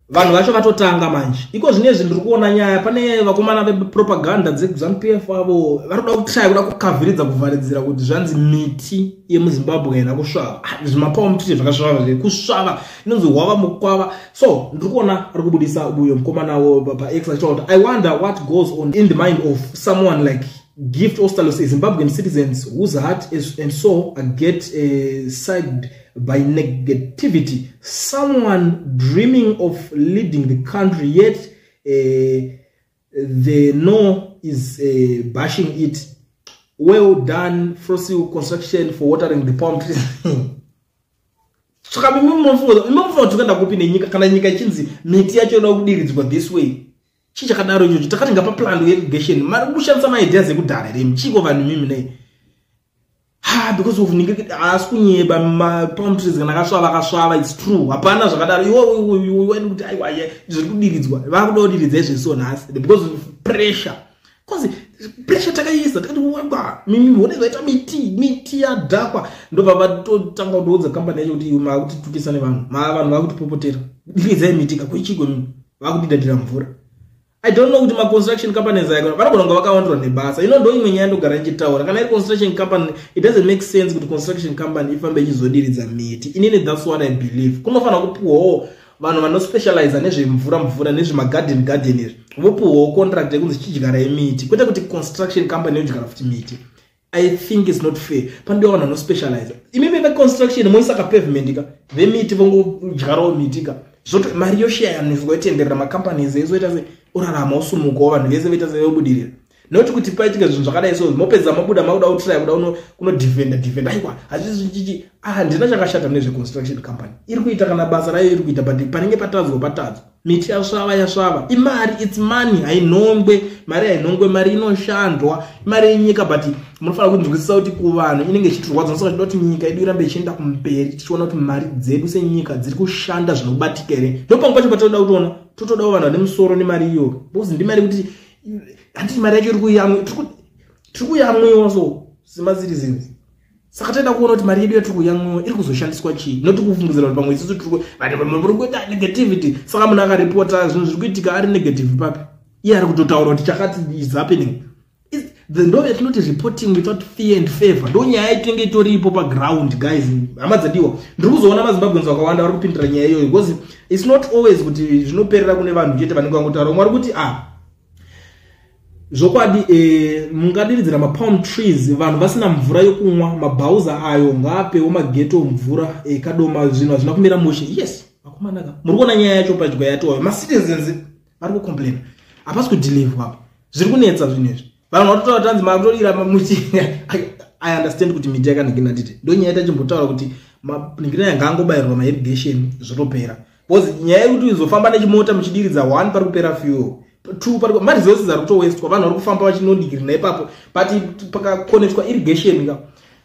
vanhu vacho vatotanga manje iko zvine zvinhu ndiri kuona nyaya pane vakomana vepropaganda dzekuzanu p f avo vari kuda kutraya kuda kukavhiridza kuvharidzira kuti zvanzi miti yemuzimbabwe haina kusvava ah, zvimapawo mutite zvakasvava zve kusvava inonzi hwava mukwava so ndiri kuona ari kubudisa uyo mukomana wo pax achitaura kuti i wonder what goes on in the mind of someone like Gift Ostalos, a Zimbabwean citizen whose heart is, and soul are get uh, side by negativity. Someone dreaming of leading the country, yet uh, the no is uh, bashing it. Well done, Frosty Construction, for watering the palm trees. saka mimi munofunga kuti unoenda kupi nenyika kana nyika ichinzi miti yacho inoda kudiridzwa this way chii chakadaro ichocho takati ngapa plan irrigation mari kushandisa maideas ekudhara here mchiko vanhu mimi nei ha because of ninge haasi kunyeba mapalm trees kana akasvava akasvava its true hapana zvakadaro iwoiwoiwoiwani kuti aiwa zviri kudiridzwa vakuda kudiridza izvesiwo nhasi because of pressure kozi pressure takaiisa takati waba mimi hone zvaita miti miti yadhakwa ndobva vatotanga kutoudza kambani yacho kuti maakutitukisa nevanhu maa vanhu vakutipopotera dikizai miti kakuichigwe mimi vakutidadira mvura i don't know kuti maconstruction company zayakona vanogona kunge vakawandirwa nebasa ino ndo imwe nyaya ndogara ndichitaura kana iri construction company it doesn't make sense kuti construction company ifambe ichizodiridza miti inini thats what i believe kunofanira kupiwawo vanhu vanospecializa nezvemvura mvura nezvemagarden garden izvi vopuhwawo contract yekunzi chidyarai miti kwete kuti construction company yodyara futi miti i think its not fair panodewa vanhu vanospecializa imi veveconstruction moisa ka pavement ka vemiti vongodyarawo miti ka zvoto mari yoshayaniswa yotenderera macompanies ezoita se orarama osumukawo vanhu vese voita sevobudirira not kuti paitika zvinhu zvakadai so mopedza mabuda makuda kutry kuda kunodefenda defenda aiwa hazvizvichichi ah, handina chakashata mune zveconstruction company iri kuita kana basa rayo iri kuita but panenge patadzwa patadzwa miti yasvava yasvava imari its money hainhongwe mari hainhongwe mari inoshandwa imari yenyika but munofanira kunzwisisa kuti kuvanhu inenge ichitirwadza nosaka chida kuti nyika yedu irambe ichienda kumberi tichiona kuti mari dzedu senyika dziri kushanda zvinobatika here ndopanga pacho patinoda kutiona totodawo vanhu vane musoro nemari iyoyo because ndimari kuti handiti mari yacho iri kuyamwa tiri kuyamwiwa so simba ziri zinzi saka taida kuona kuti mari yedu yatiri kuyamwiwa iri kuzoshandiswa chii noti kufungidzira kuti pamwe isisu tiri vati pamwe muri kuita negativity saka munhu akaripota zvinhu zviri kuitika ari negative papi iye ari kutotaura kuti chakati is happening the ndo yatinoti reporting without fear and favor ndo nyaya itinenge itoripo paground guys hama dzadiwa ndiri kuzoona mazimbabweans vakawanda vari kupindira nyaya iyoyo because its not always kuti zvinoperera kune vanhu chete vanenge vangotaura mwari kuti a ah, zvokwadi e, mungadiridzira mapalm trees vanhu vasina mvura yokunwa mabhauza ayo ngaapewo mageto mvura ekadoma eh, zvinhu hazvina kumira mushe yes vakomanaka muri kuona nyaya yacho padya yatoyo macitizens vari kucomplaina hapasi kudilivwa apa zviri kunetsa zvinhu izvi vanhu vatotaura tanzi makutodyira muchinga i understand kuti miti yakanhikina tite ndonyaya ita chimbotaura kuti manhikina yanga angobayirwa mairrigation zvotopera bcause nyaya yekuti izofamba nechimota muchidiridza one pari kupera fuel two pari maresources ari kutowestwa vanhu vari kufamba vachinondigirina ipapo but pakakonetwa irrigation ka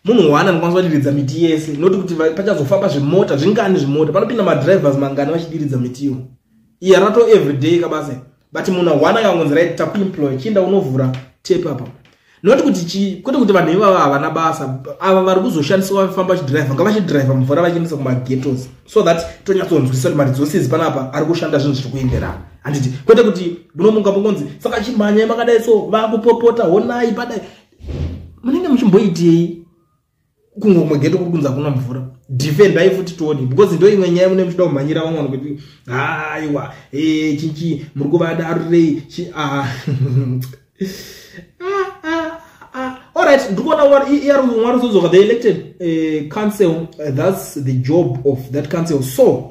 munhu one anokwanisa kudiridza miti yese noti kuti pachazofamba zvimota zvingani zvimota panopinda madrivers mangani vachidiridza mitiwo iya rato everyday kabase but munhu awana kangonzi right takuemploy chienda unovhura tape apa not kuti chi kwete kuti vanhu ivava havana basa ava vari kuzoshandiswa vafamba vachidriver ngavachidriver mvura vachiendesa kumagetos so that tonyatsonzwisisa kuti mari dzose idzi panapa ari kushanda zvinhu zviri kuenderana handiti kwete kuti munomunga mungonzi saka chimhanyai makadai so vakupopota honai padai munenge muchimboitei kungo kumwe geto kuri kunza kuna mvura defendai futi tione because ndo imwe nyaya mune muchida kumhanyira vamwe vanhu kuti haiwa e chinchi muri kuvada arirei ah. ah, ah, alright ndiri kuona mwari uzodzoka the elected eh, council eh, thats the job of that council so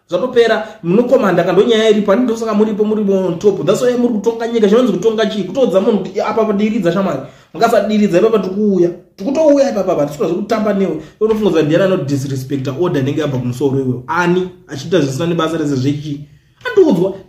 zvatopera munokomanda kando nyaya iripo ani ndosaka muripo muri on top that's why muri kutonga nyika chinonzi kutonga chii kutoudza munhu kuti apa padiridza shamwari mukasadiridza ipapa tikuuya tikutouya ipapa apa tisikuda zvekutamba newe totofunga kuti ndiani anodisrespecta order inenge yabva kumusoro iweyo ani achiita zvisina nebasa rese zvechii andiudzwa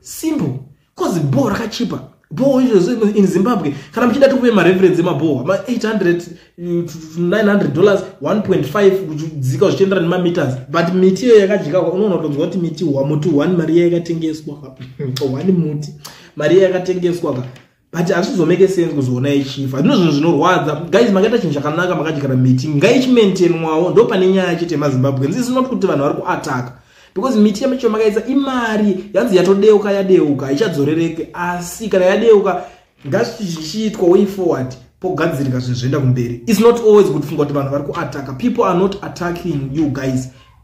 simple cause bho rakachipa bho in zimbabwe kana muchida tikupe mareference emabhoho ma 800 900 dollars 1.5 kudzika zvichienderana nemameters but miti iyo yakadyikakwa unoona kutonzwa kuti miti muti one mari iya yakatengeswa one muti mari iya yakatengeswa ka but hazvizomeke sense kuzoona yechifa ndino zvinhu zvinorwadza guys makaita chinhu chakanaka makadyara miti ngaichimaintainwawo ndo pane nyaya chete yemazimbabweans is not kuti vanhu vari kuataka because miti yamacho makaisa imari yanzi yatodeuka yadeuka haichadzorereke asi kana yadeuka ngazvichiitwa way forward pogadzirika zvinhu zvoenda kumberi its not always kuti funga kuti vanhu vari kuataka people are not attacking you guys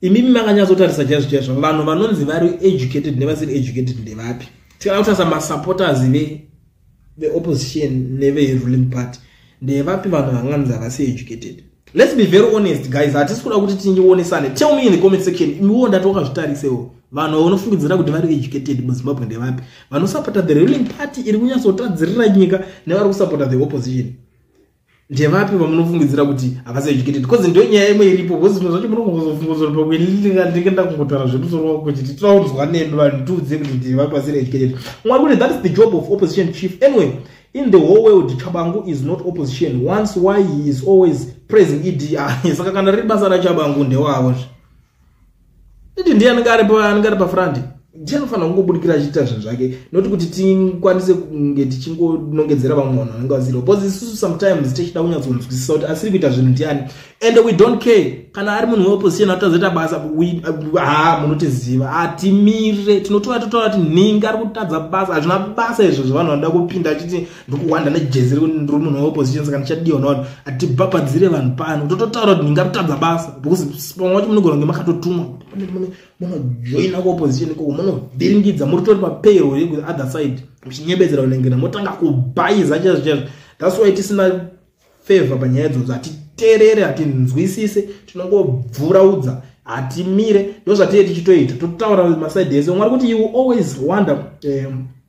imimi makanyatsotarisa chaizvo chaizvo vanhu vanonzi vari educated nevasiri educated ndevapi tikana kutarisa masupporters veopposition neveruling party ndevapi vanhu vanganzi havasi educated let's be very honest guys hatisi kuda kuti tinyonesane tell me in the comment section imiwo ndati wakazvitarisewo vanhu vanofungidzira kuti vari educated muzimbabwe ndevapi vanosupporta the ruling party iri kunyatsotadzirira nyika nevari kusupporta the opposition ndevapi vamunofungidzira kuti havasi educated bcause ndo nyaya imwe iripo bcause zvimwe zvacho munokuzofungozoa pakuendinge ndakungotara zvemusoro wako kuti titaunzwa nemi vanhu tiudze kuti ndevapi vasiri educated mwari kuti that is the job of opposition chief anyway in the whole world chabangu is not opposition once why he is always praising ed ah, saka kana riri basa rachabangu ndewavo zve Didi ndiye anenge ari pa anenge ari pa front. Ndiye anofanira kungobudikira achiita zvinhu zvake not kuti tikwanise kunge tichingonongedzera vamwe vanhu vanenge vasiri because isusu sometimes tichida kunyatsonzwisisa kuti asiri kuita zvinhu ndiani and we don't care kana ari munhu weopposition atozoita basa ha munotiziva hatimire tinotora totaura kuti nhingi ari kutadza basa hazvina basa izvo zvavanhu vanoda kupinda achiti ndokuwanda nejezi remunhu weopposition saka ndichadiwa navanhu hatibhabhadzire vanhu pano tototaura kuti ndingatotadza basa because pamwe wacho munogona kunge makatotumwa munojoina kuopposition ikoko munovhiringidza muri tori papayro yekuti other side muchinyebedzera kunengena motanga kubhaiza chaizvo chaizvo thats why tisina favor panyaya idzodzo hatiterere hatinzwisise tinongobvuraudza hatimire ndozvatiye tichitoita totaura masaidi ese mwari kuti you always wonder um,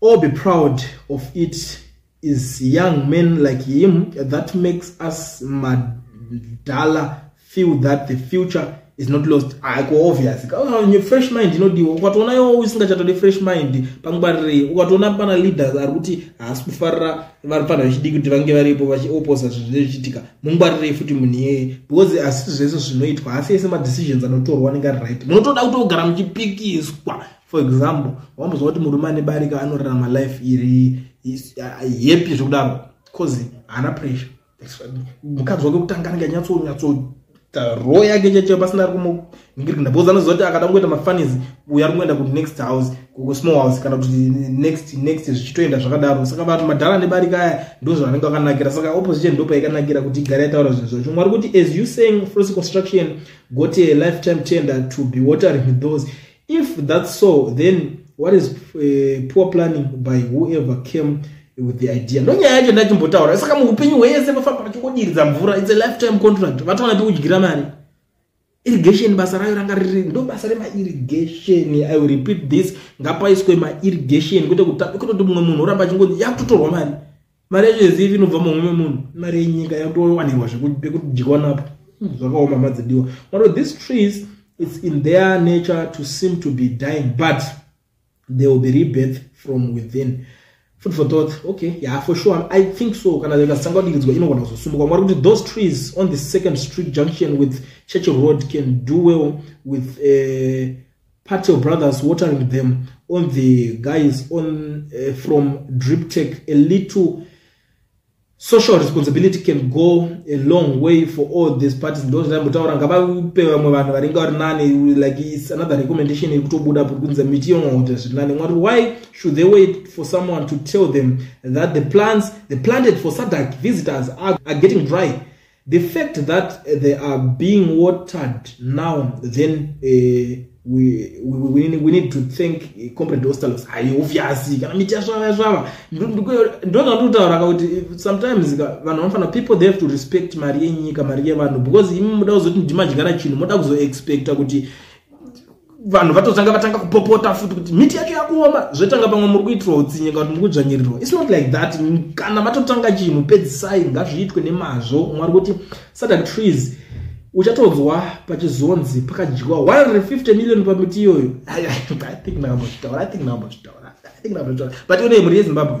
All be proud of it is young men like him that makes us madala feel that the future is not lost aiko ah, obvious ah, fresh mind inodiwa ukatoona iwo usingachatode fresh mind pangwarirei ukatoona pana leaders ari kuti haasi kufarira vari fana vechidiki kuti vange varipo vachioposa zvinhu zvinenge zvichiitika mungwarirei futi munhu iyeye because asi zvese zvinoitwa haasi ese madecisions anotorwa anenge ari right munotoda kuti ogara muchipikiswa for example wambozwa kuti murume ane barika anorarama life iri yepi uh, zvekudaro bcause haana pressure mukadzi wake kutanga anenge anyatsonyatsoita ro yake cheche pasina ari kumuningirikina bcause anoziva kuti akada kungoita mafanis uyo ari kungoenda kuti next house kusmall house kana kuti next next zvichitoenda zvakadaro saka vanhu madhara ane barika aya ndozvaanenge akanakira saka opposition ndopaikanakira kuti igare yataura zvinhu zvacho mwari kuti as you saying frost construction got a lifetime tender to be watering those if that's so then what is uh, poor planning by whoever came with the idea ndonyaya yacho ndachimbotaura saka muupenyu hwese vafamba vachingodiridza mvura its a lifetime contract vatoona pekudyira mari irrigation basa rayo ranga riri ndo basa remairrigation i will repeat this ngapaiswe mairrigation kwete kutoti mumwe munhu oramba achingonzi yakutotorwa mari mari yacho yezivi inobva mumwe memunhu mari yenyika yatowanirwa zvekudyiwa napo hmm, zvakaoma madzidiwa mato these trees its in their nature to seem to be dying but they will be rebirth from within food for thought okay ya yeah, for sure i think so kana ikasanga kudiridzwa inogona kuzosumuka mwari kuti those trees on the second street junction with church road can do well with uh, Part your brothers watering them on the guys on uh, from drip tech a little social responsibility can go a long way for all these parties ndozvandambotaura ngavape vamwe vanhu varinge vari nani like its another recommendation yekutobuda kunze miti yongokuti zviri nani mwari why should they wait for someone to tell them that the plants the planted for sadak visitors are, are getting dry The fact that they are being watered now, then uh, we, we, we, need to thank eh, comrade ostalos haiufyasi kana miti yasvava yasvava ndozva ndikutaura ka kuti eh, sometimes vanhu vanofanira people they have to respect mari yenyika mari yevanhu because imi muda kuzoti ndimadyara chinhu moda kuzoexpecta kuti vanhu vatotanga vatanga kupopota futi kuti miti yacho yakuoma zvotanga pamwe muri kuitirwa utsinye kana kuti muri kudzvanyirirwa its not like that kana matotanga chinhu pedzisai ngazviitwe nemazvo mwari kuti satan trees uchatonzwa pachizonzi pakadyiwa 150 million pamiti iyoyo but ione mhuri yezimbabwe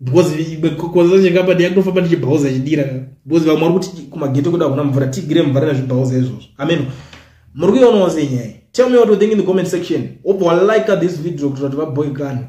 because because zanje ngamba ndi yakto famba ndi chibhauza chidira because vamwe vari kuti kuma ghetto kuda kuna mvura tigire mvura na chibhauza izvozvo amen muri kuona wose nyaya tell me what you think in the comment section obva like this video kuti vati vaboy kana